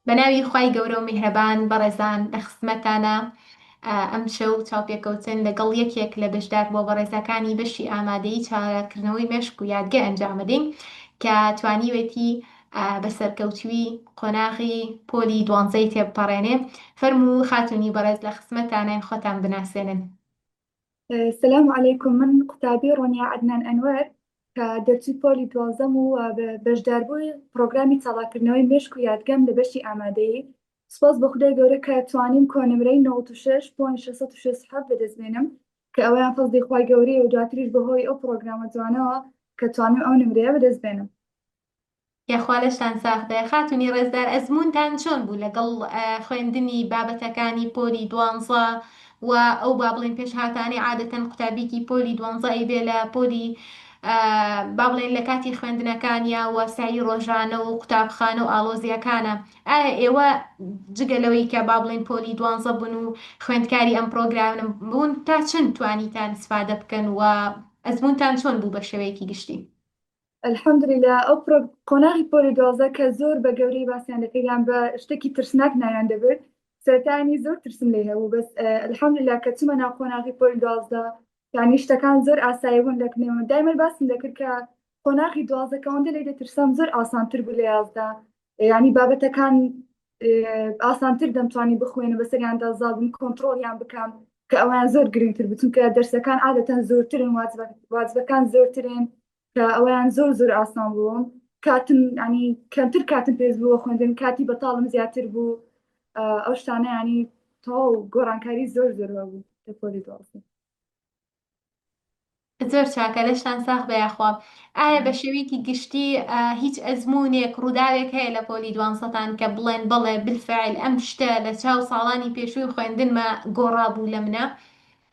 بەناوی خوای گەورەو میهرەبان بەڕێزان لەخزمەتتانە ئەمشەو چاوپێکەوتن لەگەڵ یەکێک لە بەشدار بووە بەڕێزەکانی بەشی ئامادەیی چالاککردنەوەی مێشک و یادگە ئەنجامەدەین کە توانیوێتی بەسەرکەوتووی قۆناغی پۆلی دوانزەی تێبپەڕێنێ فەرموو خاتونی بەڕێز لەخزمەتتانین خۆتان بناسێنن. سلام علیکم من قوتابی ڕۆنیا عدنان ئەنوەر کە دەرچوی پۆلی دوازەم و بەشداربووی پرۆگرامی چاڵاکردنەوەی مشک و یادگەم لە بەشی ئامادەیی سپاس بە خدای گەورە کە توانیم کۆنمرەی 96.667 بەدەست بێنم کە ئەویان فەزدی خی گەورەیە و دواتریش بەهۆی ئەو پرۆگرامە جوانەوە کە توانم ئەو نمرەیە بەدەست بێنم یاخوا لەشتان ساخبێ. خاتونی ڕێزدار ئەزموونتان چۆن بوو لەگەڵ خوێندنی بابەتەکانی پۆلی دوانزە و ئەو با بڵێین پێشهاتانەی عادەتەن قوتابیکی پۆلی دوانزە ئەیبێ لە پۆلی با بڵێین لە کاتی خوێندنەکانیا و سەعی ڕۆژانە و قوتابخانە و ئاڵۆزیەکانە ئایا ئێوە جگە لەوەی کە با بڵێین پۆلی دوانزە بوون و خوێندکاری ئەم پرۆگرامم بوون تا چەند توانیتان سفادە بکەن و ئەزمونتان چۆن بوو بە شێوەیەکی گشتی الحمدللە ئەو پڕۆ قۆناغی پۆلی دوازدە کە زۆر بە گەورەی باسیان دەکرد یان بە شتێکی ترسناک ناویان دەبرد سەرتانی زۆر ترسم لێ هەبوو بەس الحمدللە کە چوومە ناو قۆناغی پۆلی دوازدە یانی شتەکان زۆر ئاسایی بوون دەکنێمە دایمەر باسم دەکرد کە قۆناغی دوازدە کە ئەوەندە لێ دەترسام زۆر ئاسانتر بوو لە یازدە یانی بابەتەکان ئاسانتر دەمتوانی بخوێنە بەسەریاندا زابوون کۆنتترۆڵیان بکەم کە ئەویان زۆر گرنگتر بچون کە دەرسەکان عادەتەن زۆرترن واجبەکان زۆرترن کە ئەویان زۆر زۆر ئاسان بووم کاتم ینی کەمتر کاتم پێز بووە خوێندن کاتی بەتاڵم زیاتر بوو ئەو شتانە ینی تەواو گۆڕانکاری زۆر زۆر بوو لە پۆلی دوازدە زۆر چاکە لەشتان ساخ بە یاخوا ئایا بە شێوەیەکی گشتی هیچ ئەزمونێک ڕووداوێک هەیە لە پۆلی دوانسەتان کە بڵێن بەڵێ بالفعل ئەم شتە لە چاو ساڵانی پێشووی خوێندنمە گۆڕا بوو لە منە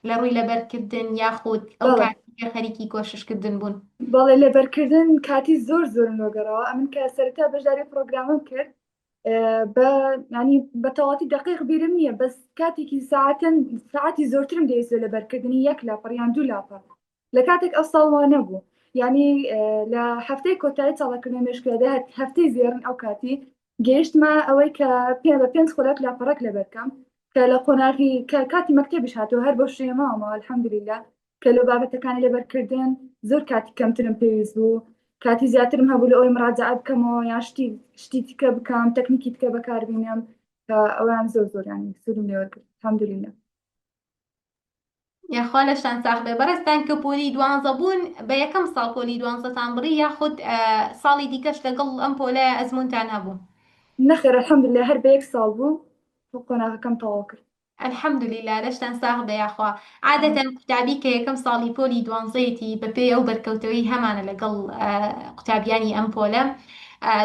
لە ڕووی لەبەرکردن یاخود ئەو کاتیکە خەریکی کۆششکردن بوون بەڵێ لەبەرکردن کاتی زۆر زۆر لۆگەڕەوە ئەمن کە سەرتا بەشداری پرۆگرامم کرد بە ینی بە تەواتی دقیق بیرم نییە بەس کاتێکی ساعتن ساعتی زۆرترم دەیزۆ لەبەرکردنی یەک لاپەڕیان دوو لاپەڕ لە کاتێک ئەو ساڵ وا نەبوو یعنی لە هەفتەی کۆتایی چاڵکردنە مێشکێدا هەفتەی زێرن ئەو کاتی گەیشتمە ئەوەی کە پێ بە پێنج خولەک لاپەڕک لەبەرکەم کە لە قۆناغی کە کاتی مەکتتەبیش هاتوو هەر بۆ شێماوەمەوە الحەمدللا کە لە بابەتەکانی لەبەرکردن زۆر کاتی کەمترم پێویست بوو کاتی زیاترم هەبوو لە ئەوی مراجعە بکەمەوە یا شتی شتی تکە بکەم تەکنیکی تکە بەکاربینم کە ئەویان زۆر زۆریان سوودم لێوەرکرد الحەمدللا یاخوا لەشتان ساخ بێ بەڕێستان کە پۆلی دوانزە بوون بە یەکەم ساڵ پۆلی دوانزەتان بڕی یاخود ساڵی دیکەش لەگەڵ ئەم پۆلە ئەزمونتان هەبوو نەخێر الحمدللە هەر بە یەک ساڵ بوو قۆناغەکەم تەواو کرد الحمدللە لەشتان ساخ بێ یاخوا عادەتەن قوتابی کە یەکەم ساڵی پۆلی دوانزەیەتی بەپێی ئەو بەرکەوتەوەی هەمانە لەگەڵ قوتابیانی ئەم پۆلە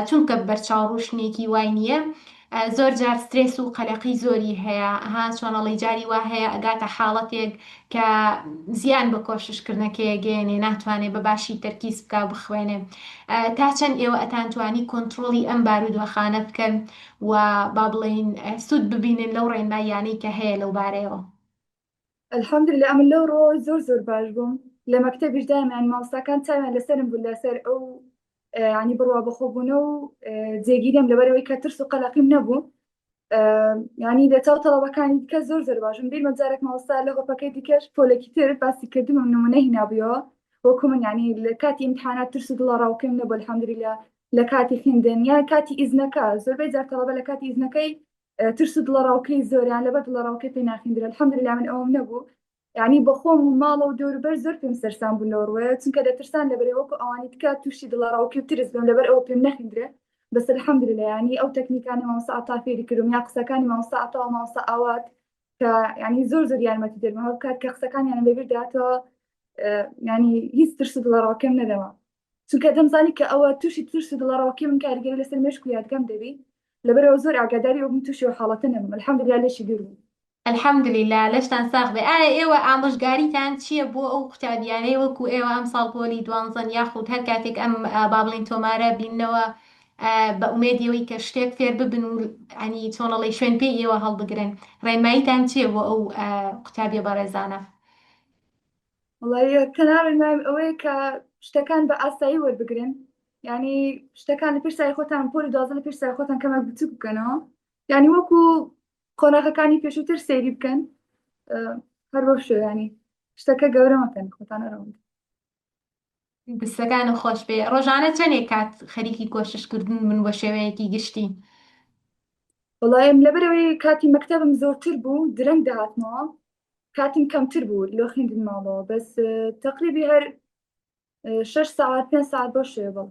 چونکە بەرچاو ڕوشنێکی وای نییە زۆر جار سترێس و قەلەقی زۆری هەیە ها چۆنەڵی جاری وا هەیە ئەگاتە حاڵەتێک کە زیان بە کۆششکردنەکەیەگەێنێ ناتوانێ بە باشی تەرکیز بکە بخوێنێ تا چەند ئێوە ئەتانتوانی کۆنتترۆلی ئەم بارودۆخانە بکەن و با بڵین سوود ببینن لەو ڕێنماییانەی کە هەیە لەو بارەیەوە الحمدللە ئەمن لەو ڕۆوە زۆر زۆر باش بووم لە مەکتەبیش دایمەن مامۆستاکان چاویان لەسەرم بوو لەسەر ئەو ینی بڕوا بەخۆبوونە و جێگیرم لەبەرەوەی کە ترس و قەلەقیم نەبوو ینی لە چاو تەڵەبەکانی دیکە زۆر زۆر باشم بیر مەجارێک مامۆستا لە گۆپەکەی دیکەش پۆلێکی تر باسی کردم و نمونە هینابیەوە وەکو من ینی لە کاتی ئیمتحانات ترس و دڵە ڕاوکەم نەبوو الحمدللە لە کاتی خوێندن یا کاتی ئیزنەکە زۆربەی جار تەڵەبە لە کاتی ئیزنەکەی ترس و دڵەڕاوکێی زۆریان لەبەر دڵەڕاوکێ پێ ناخیندرێ الحمدللە من ئەوەم نەبوو یانی بە خۆم و ماڵەوە دەوروبەر زۆر پێم سەرسام بوون لەوە ڕووەیە چونکە دەترسان لەبەرەی وەکو ئەوانی تکا تووشی دڵەڕاوکێ و ترس بم لەبەر ئەوە پێم نەخیندرێ بەس الحمدللە یانی ئەو تەکنیکانی مامۆستا عەتا فێری کردوم یا قسەکانی مامۆستا عەتا و مامۆستا ئاوات کە یانی زۆر زۆر یارمەتی دەرمە هەر بکات کە قسەکانیان لەبیر داتەوە یانی هیچ ترس و دڵەڕاوکێم نەدەما چونکە دەمزانی کە ئەوە تووشی ترس و دڵەڕاوکێ بم کاریگەری لەسەر مێشک و یادگەم دەبی لەبەرئەوە زۆر ئاگاداری ئەوە بووم تووشی ئەو حاڵەتە نەبم الحمدللە لێشی دوور بووم. الحمدللە لەشتان ساغ بێ ئایا ئێوە ئامۆژگاریتان چیە بۆ ئەو قوتابیانەی وەکو ئێوە ئەمساڵ پۆلی دوانزەن یاخود هەر کاتێک ئەم با بڵێین تۆمارە بیننەوە بە ئومێدی ئەوەی کە شتێک فێر ببن و عنی چۆن ئەڵێی شوێن پێی ئێوە هەڵبگرن ڕێنماییتان چیە بۆ ئەو قوتابیە بەڕێزانە؟ وڵی تەناوی مام ئەوەیە کە شتەکان بە ئاسایی وەربگرن ینی شتەکان لە پرسای خۆتان پۆل دازە لە پرسای خۆتان کەمە بچوک بکەنەوە ینی وەکو قۆناغەکانی پێشووتر سەیری بکەن هەر بۆ شوێنانی شتەکە گەورەمەکەن خۆتان ئەرەوەند دەستەکانت خۆش بێ ڕۆژانە چەنێک کات خەریکی کۆشش کردن بن بە شێوەیەکی گشتی؟ وەڵایم لەبەرەوەی کاتی مەکتەبم زۆرتر بوو درەنگ دەهاتمەوە کاتم کەمتر بوو لۆ خوێندن ماڵەوە بەس تەقریبی هەر شش ساعت پێ ساعت بەو شێوە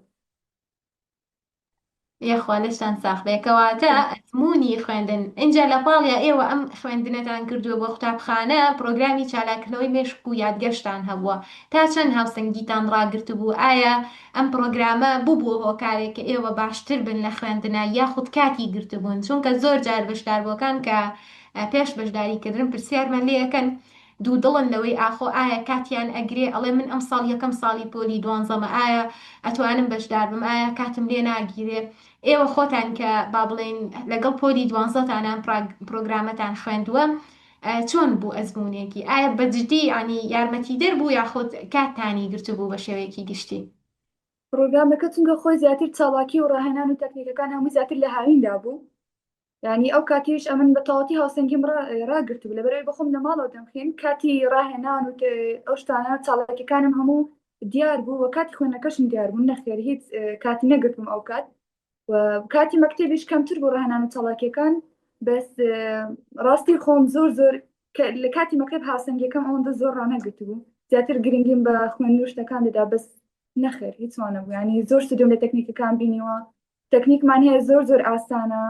یەخوا لەشتان ساخبێ کەواتە ئەزمونی خوێندن ئینجا لە پاڵیا ئێوە ئەم خوێندنەتان کردووە بۆ قوتابخانە پرۆگرامی چالاکردنەوەی مێشک و یادگەشتان هەبووە تا چەند هاوسەنگیتان ڕاگرتبوو ئایا ئەم پرۆگرامە بوبوە هۆکارێک کە ئێوە باشتر بن لە خوێندنە یاخود کاتی گرتبوون چونکە زۆر جار بەشداربووەکان کە پێش بەشداریکردن پرسیارمان لێ ئەکەن دوودڵن لەوەی ئاخۆ ئایا کاتیان ئەگرێ ئەڵێ من ئەمساڵ یەکەم ساڵی پۆلی دوانزەمە ئایا ئەتوانم بەشداربم ئایا کاتم لێ ناگیرێ ئێوە خۆتان کە با بڵێین لەگەڵ پۆلی دوانزەتان ئەم پڕۆگرامەتان خوێندووە چۆن بوو ئەزمونێکی ئایا بەجدی یانی یارمەتی دەر بوو یاخود کاتتانی گرتبوو بە شێوەیەکی گشتی. پڕۆگرامەکە چونکە خۆی زیاتر چاڵاکی و ڕاهێنان و تەکنیکەکان هەمووی زیاتر لە هاویندا بوو ینی ئەو کاتیش ئەمن بە تەواتی هاوسەنگیم ڕاگرت بوو لەبەرەوەی بەخۆم لە ماڵەوە دەمخێن کاتی ڕاهێنان و ئەو شتانە چاڵەکەەکانم هەموو دیار بوو و کاتی خوێنەکەشم دیار بوو نەخێر هیچ کاتی نەگرتم ئەو کات و کاتی مەکتتەبیش کەمتر بوو ڕاهێنان و چاڵاکیەکان بەس ڕاستی خۆم زۆر زۆر لە کاتی مەکتب هاوسەنگەکەم ئەوەندە زۆر ڕانەگرت بوو زیاتر گرنگیم بە خوێن نوشتەکان دەدا بەس نەخێر هیچوانە بوو ینی زۆر شتم لە تەکنیکەکان بینیوە تەکنیکمان هەیە زۆر زۆر ئاسانە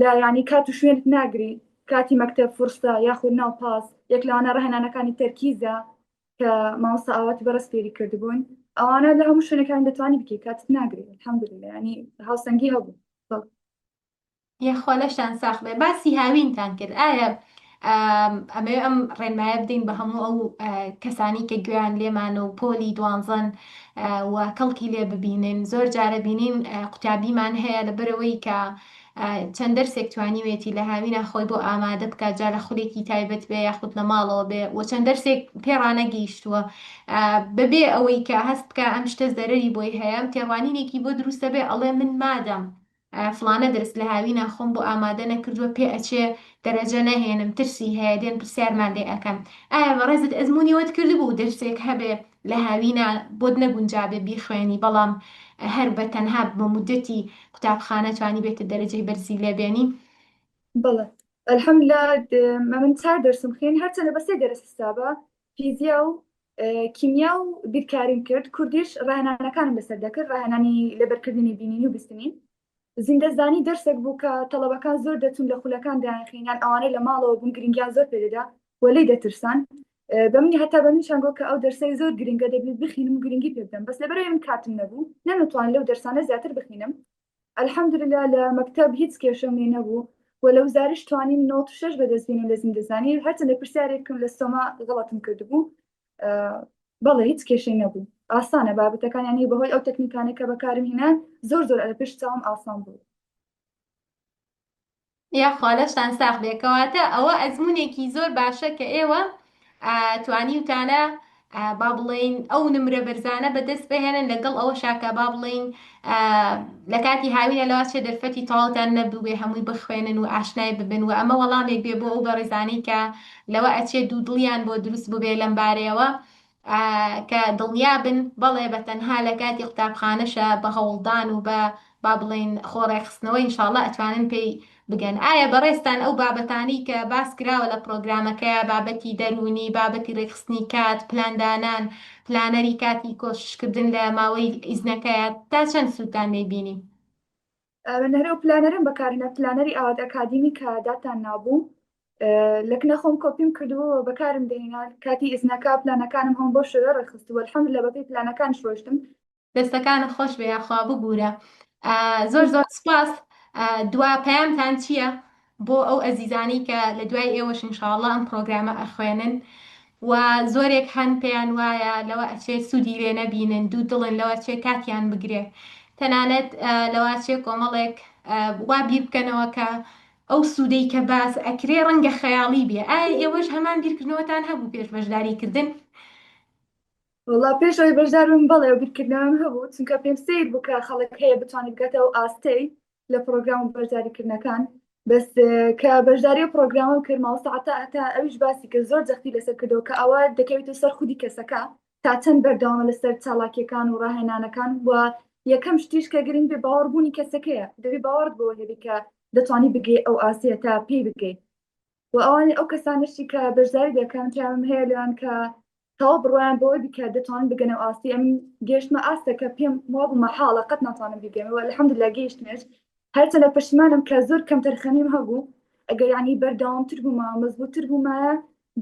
لە ینی کات و شوێنت ناگری کاتی مەکتب فرستا یاخود ناو پاس یەک لەوانە ڕهێنانەکانی تەرکیزە کە ماوەسا ئاواتی بەڕست فێری کردبوون ئەوانە لە هەموو شوێنەکان دەتوانانی بکە کاتت ناگری هەمبرێ ینی هاوسەنگی هەبوو یاخوا لەشتان ساخ بێ باسی هاوینتان کرد ئایا ئەمەوێ ئەم ڕێنمایە بدەین بە هەموو ئەو کەسانی کە گوێیان لێمان و پۆلی دوانزەن و کەڵکی لێ ببینن زۆر جارە بینین قوتابیمان هەیە لە بەرەوەی کە چەند دەرسێک توانیوێتی لە هاوینا خۆی بۆ ئامادە بکات جا لە خولێکی تایبەت بێ یاخود لە ماڵەوە بێ و چەند دەرسێک پێڕانەگەیشتووە بەبێ ئەوەی کە هەست بکە ئەم شتە زەرری بۆی هەیە تێڕوانینێکی بۆ دروستە بێ ئەڵێ من مادەم فڵانە دەرس لە هاوینا خۆم بۆ ئامادە نەکردووە پێ ئەچێ دەرەجە نەهێنم ترسی هەیە دێن پرسیارمان لێ ئەکەن ئایا بەڕێزت ئەزمونی وەت کردبوو دەرسێک هەبێ لە هاوینا بۆت نەگونجابێ بیخوێنی بەڵام هەر بە تەنها بە مودەتی قوتابخانە توانیبێتت دەرەجەی بەرزی لێ بێنی؟ بەڵێ الحمدللە ئەمن چار دەرسم خوێند هەرچەندە بە سێ دەرس حسابە فیزیا و کیمیا و بیرکاریم کرد، کوردیش ڕاهێنانەکانم لەسەر دەکرد، ڕاهێنانی لەبەرکردنی بینینی و بیستنین. زیندەزانی دەرسێک بوو کە تەڵەبەکان زۆر دەچوون لە خولەکان دەیانخین، یان ئەوانەی لە ماڵەوە بوون گرنگیان زۆر پێ دەدا و لێی دەترسان. بە منی هەتا بە منیشان گوت کە ئەو دەرسەی زۆر گرنگە دەبێ بخینم و گرنگی پێ بدەم، بەس لەبەر ئەوەی من کاتم نەبوو نەمتوانی لەو دەرسانە زیاتر بخینم، الحمدللە لە مەکتەب هیچ کێشەم لێ نەبوو و لە وزاریش توانیم نەوەد و شەش بەدەست بینم لە زیندەزانی هەرچەندە پرسیارێکم لە سۆما غەڵەتم کردبوو بەڵێ هیچ کێشەی نەبوو ئاسانە بابەتەکانیانی بەهۆی ئەو تەکنیکانە کە بەکارم هینا زۆر زۆر ئەرە پێش چاوم ئاسان بوو یاخوا لەشتان ساخ بێ کەواتە ئەوە ئەزمونێکی زۆر باشە کە ئێوە توانیوتانە با بڵین ئەو نمرە بەرزانە بەدەست بهێنن لەگەڵ ئەوە شاکە با بڵین لە کاتی هاوینە لەوا چێ دەرفەتی تاڵتان نەبووێ هەمووی بخوێنن و ئاشنای ببن و ئەمە وەڵامێک بێ بۆ ئەو بەڕێزانەی کە لەوە ئەچێ دوو دڵیان بۆ دروست ببێ لەم بارەیەوە کە دڵنیا بن بەڵێ بە تەنها لە کاتی قوتابخانەشە بە هەوڵدان و بە با بڵێین خۆ ڕێکخستنەوە ان شاء اللە ئەتوانن پێی بگەن. ئایا بەڕێزتان ئەو بابەتانەی کە باس کراوە لە پڕۆگرامەکە بابەتی دەروونی، بابەتی ڕێکخستنی کات، پلاندانان، پلانەری کاتی کۆشش کردن لە ماوەی ئیزنەکەیا تا چەند سوودتان لێی بینی؟ نەرە و پلانەرم بەکارنە پلانەری ئاوات ئەکادیمی کە داتان نابوو لەکنە خۆم کۆپیم کردووە بەکارم دێنا کاتی ئیزنەکە پلانەکانم هەم بۆ شوێ ڕێخستووە حەم لە بەپی پلانەکان شۆشتم دەستەکانە خۆش بێ یاخوا ببوورە زۆر زۆر سپاس دوا پەیامتان چییە؟ بۆ ئەو ئەزیزانەی کە لە دوای ئێوەش ان شاء اللە ئەم پڕۆگرامە ئەخوێنن و زۆرێک هەن پێیان وایە لەوە ئەچێ سوودی لێ نەبینن دوو دڵن لەوە چێ کاتیان بگرێ تەنانەت لەوە چێ کۆمەڵێک وا بیر بکەنەوە کە ئەو سوودەی کە باس ئەکرێ ڕەنگە خەیاڵی بێ ئایا ئێوەش هەمان بیرکردنەوەتان هەبوو پێش بەشداری کردن وڵا پێش ئەوی بەشدارم بەڵێ بیرکردنەوەم هەبوو چونکە پێم سیر بوو کە خەڵک هەیە بتوانێت بگاتە ئەو ئاستەی لە پرۆگرام و بەشداریکردنەکان بەس کە بەشداری و پرۆگرامم کرد ماوەسەعتا ئەتا ئەویش باسی کرد زۆر جەختی لەسەر کردەوە کە ئەوە دەکەوێت و سەر خودی کەسەکە تا چەند بەردەوامە لەسەر چالاکیەکان و ڕاهێنانەکان و یەکەم شتیش کە گرنگ بێ باوەڕبوونی کەسەکەیە دەبی باوەڕت بۆ هەبی کە دەتوانی بگەی ئەو ئاسیە تا پێی بگەیت و ئەوانی ئەو کەسانشی کە بەشداری دەکەن پیاوم هەیە لەوان کە تەوا بڕوایان بەوە دیکە دەتوان بگەنە ئاستی ئەم گەشتمە ئاستەکە پێم وا بوو مەحاڵە قەت ناتوانم بیگەمەوە الحمد لله گەیشتمێش هەرچەندە پشتمانم کە زۆر کەم تەرخەمیم هەبوو ئەگەر یعنی بەردەوامتر بوومە مەزبووتر بوومایە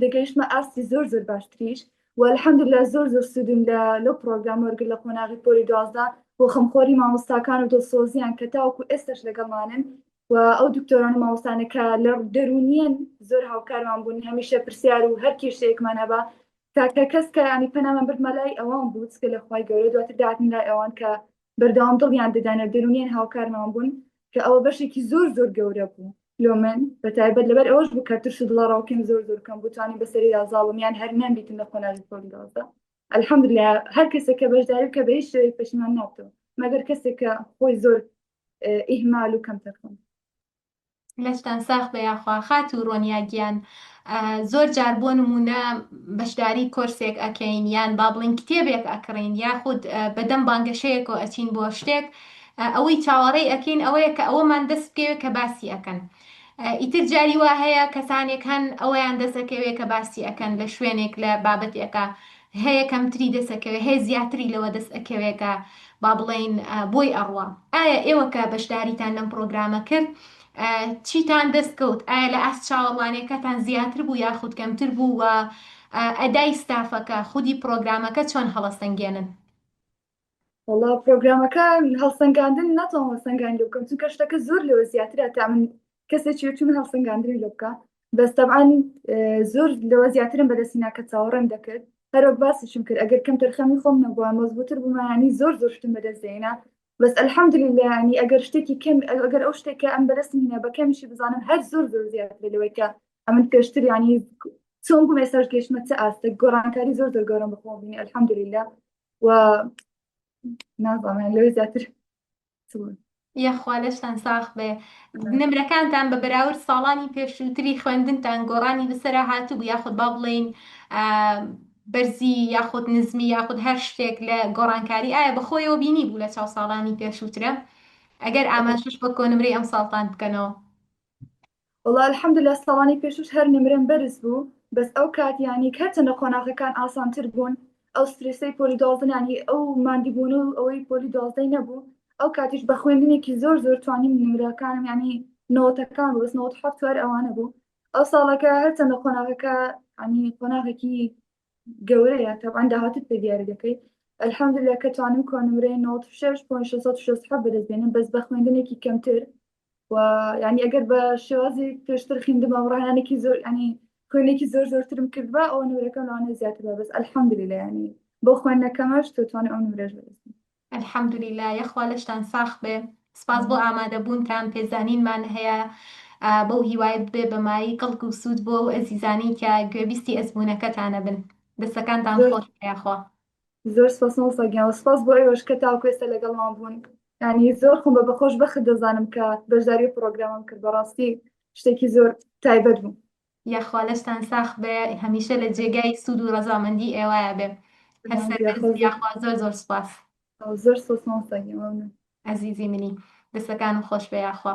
دەگەیشتمە ئاستی زۆر زۆر باشتریش و الحمد لله زۆر زۆر سوودم لە لەو پرۆگرام وەرگر لە قۆناغی پۆلی دوازدە بۆ خەمخۆری مامۆستاکان و دڵسۆزیان کە تاوەکو ئێستش لەگەڵمانن و ئەو دکتۆران و مامۆستانە کە لە دەروونیان زۆر هاوکارمان بوون هەمیشە پرسیار و هەر کێشەیەکمان هەبا تاکە کەس کە ینی پەنامان بردمە لای ئەوان بوو کە لە خی گەورە دواتر داهاتن لای ئەوان کە بەردەوام دڵیان دەدانە دەروونیان هاوکارمان بوون کە ئەوە بەشێکی زۆر زۆر گەورە بوو لۆ من بە تایبەت لەبەر ئەوەش بوو کە ترش و دڵەڕاوکەم زۆر زۆر کەم بوتانی بەسەری یازاڵم یان هەر نەمبیتن لە قۆناغی پۆل دازە الحمد لله هەر کەسێک کە بەشداری کە بە هیچ شوێک پەشیمان نابتەوە مەگەر کەسێک کە خۆی زۆر ئیهمال و کەم تەرخەم. لەشتان ساخ بە یاخوا خات و ڕۆنیا گیان زۆر جار بۆ نمونە بەشداری کۆرسێک ئەکەین یان با بڵین کتێبێک ئەکڕین یاخود بەدەم بانگەشەیەکەوە ئەچین بۆ شتێک ئەوەی چاوەڕێی ئەەکەین ئەوەیە کە ئەوەمان دەست بکەوێت کە باسی ئەەکەن ئیتر جاری وا هەیە کەسانێک هەن ئەوەیان دەسەکەوێت کە باسی ئەەکەن لە شوێنێک لە بابەتێکە هەیە کەمتری دەست ئەکەوێ هەیە زیاتری لەوە دەست ئەکەوێ کە با بڵێین بۆی ئەڕوا ئایا ئێوە کە بەشداریتان لەم پڕۆگرامە کرد چیتان دەست کەوت ئایا لە ئاست چاوەڕوانیەکەتان زیاتر بوو یاخود کەمتر بوو و ئەدای ستافەکە خودی پڕۆگرامەکە چۆن هەڵەسەنگێنن وەڵا پرۆگرامەکە هەڵسەنگاندن ناتوان هەڵسەنگاندن لێ بکەم چونکە شتەکە زۆر لەوە زیاترە تا من کەسێکی وەکی من هەڵسەنگاندنی لێ بکە بەس تەبعان اه، زۆر لەوە زیاترم بەدەستی ناکە چاوەڕێم دەکرد هەروەک باسیشم کرد ئەگەر کەم تەرخەمی خۆم نەبووە مەزبووتر بوومانی زۆر زۆر شتم بەدەست دێنا بەس الحمدلله ینی ئەگەر شتێکی کەم ئەگەر ئەو شتێکە ئەم بەدەستم هینە بە کەمیشی بزانم هەر زۆر زۆر زیاتر لەوەی کە ئەمن پێشتر ینی چۆن بووم ئێساش گەشتمە چ ئاستێک گۆڕانکاری زۆر زۆر گەورەم بەخۆم بینی الحمدلله و نازانێن لەوێ زیاتر یەخوا لەشتان ساخ بێ نمرەکانتان بە بەراورد ساڵانی پێشووتری خوێندنتان گۆڕانی بەسرە هاتبوو یاخود با بڵین بەرزی یاخود نزمی یاخود هەر شتێک لە گۆڕانکاری ئایا بەخۆیەوە بینی بوو لە چاو ساڵانی پێشووترە ئەگەر ئاماژش بە کۆنمرەی ئەم ساڵتان بکەنەوە وەڵا الحمدللە ساڵانی پێشوش هەر نمرەم بەرز بوو بەس ئەو کات یانی هەرچەندە قۆناغەکان ئاسانتر بوون ئەو سترێسەی پۆلی دوازدە یانی ئەو ماندیبوون و ئەوەی پۆلی دوازدەی نەبوو ئەو کاتیش بە خوێندنێکی زۆر زۆر توانیم نمرەکانم یانی نەوەتەکان بوو بەس نەوەت و حەفت و هەر ئەوانە بوو ئەو ساڵەکە هەرچەندە قۆناغەکە یانی قۆناغێکی گەورەیە تەبعەن داهاتووت پێ دیاری دەکەی الحمدللە کە توانم کۆنمرەی نەوەت و شەش پۆینت شەش سەد و شەست و حەفت بەدەست بێنم بەس بە خوێندنێکی کەمتر و ینی ئەگەر بە شێوازی پێشتر خیندمە ڕانانێکی زۆر ینی خوێنێکی زۆر زۆرترم کردبا ئەو نورەکەم لەوانێ زیاتر بەس ئەلحەمدلی لە ینی بۆ خوێندنەکەمەش توانێ ئەو نورێژ بەدەست الحمدللە یەخوا لەشتان ساخ بێ سپاس بۆ ئامادەبوونتان پێزانینمان هەیە بەو هیوای بێ بەمایی کەڵک و سوود بۆ ئەو ئەزیزانی کە گوێبیستی ئەزمونونەکەتانە بن دەستەکانتان خۆش یاخوا زۆر سپاس مامۆستا گیان و سپاس بۆ ئێوەش کە تاوەکو ئێستا لەگەڵمان بوون ینی زۆر خۆم بە بەخۆش بەخت دەزانم کە بەشداری پرۆگرامم کرد بەڕاستی شتێکی زۆر تایبەت بوو یاخوا لەشتان ساخ بێ هەمیشە لە جێگای سوود و ڕەزامەندی ئێوایە بێ یاخوا زۆر زۆر سپاس زۆر سۆسمۆستا ئەزیزی منی دەسەکانم خۆش بێ یاخوا